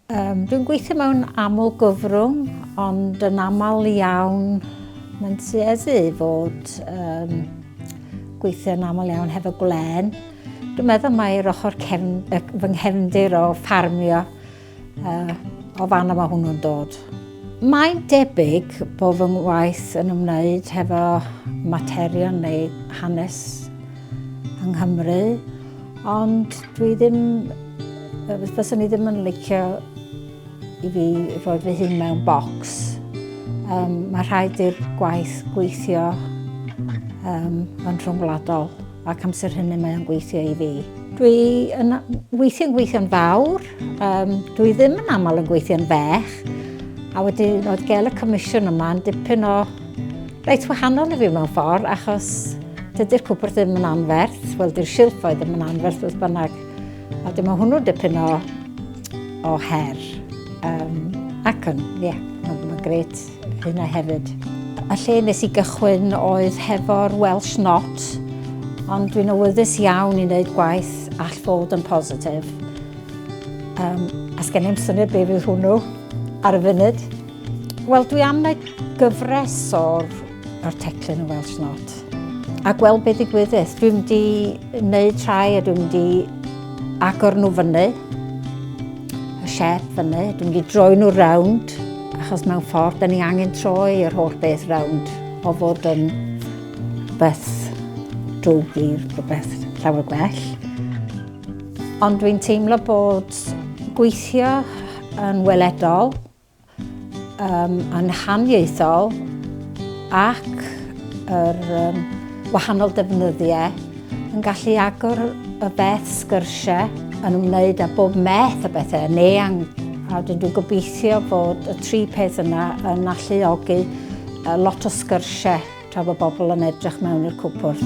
Um, dwi'n gweithio mewn aml gyfrwng, ond yn aml iawn mae'n tueddu i fod um, gweithio'n aml iawn hefo gwlen. Dwi'n meddwl mae'r ochr cefn, fy nghefndir o ffarmio uh, o fan yma hwnnw'n dod. Mae'n debyg bod fy ngwaith yn ymwneud hefo materion neu hanes yng Nghymru, Ond dwi ddim, fyswn i ddim yn licio i fi roi fy hun mewn bocs. Um, mae rhaid i'r gwaith gweithio um, yn rhwngwladol ac amser hynny mae o'n gweithio i fi. Dwi yn weithio'n gweithio'n fawr, um, dwi ddim yn aml yn gweithio'n fech, a wedyn oedd gael y comisiwn yma yn dipyn o Reit wahanol i fi mewn ffordd, achos dydy'r cwpwrdd ddim yn anferth, wel dy'r silffoedd ddim yn anferth wrth bynnag, a dyma hwnnw dipyn o, o her. Um, ac yn, ie, yeah, mae'n ma gret hynna hefyd. A lle nes i gychwyn oedd hefo'r Welsh Not, ond dwi'n awyddus iawn i wneud gwaith all fod yn positif. Um, a sgen i'm syniad beth fydd hwnnw ar y funud. Wel, dwi am wneud gyfres o'r o'r teclyn yn Welsh Not. A gweld beth i gwyddes. Dwi'n di wneud rhai a dwi'n di agor nhw fyny. Y siep fyny. Dwi'n di droi nhw rownd. Achos mewn ffordd, da ni angen troi yr holl beth rownd. O fod yn beth drwg i rhywbeth llawer gwell. Ond dwi'n teimlo bod gweithio yn weledol um, yn haniaethol ac yr um, wahanol defnyddiau yn gallu agor y beth sgyrsiau yn ymwneud â bob meth o bethau yn eang. A dyn dwi'n gobeithio bod y tri peth yna yn alluogi lot o sgyrsiau tra bod bobl yn edrych mewn i'r cwpwrdd.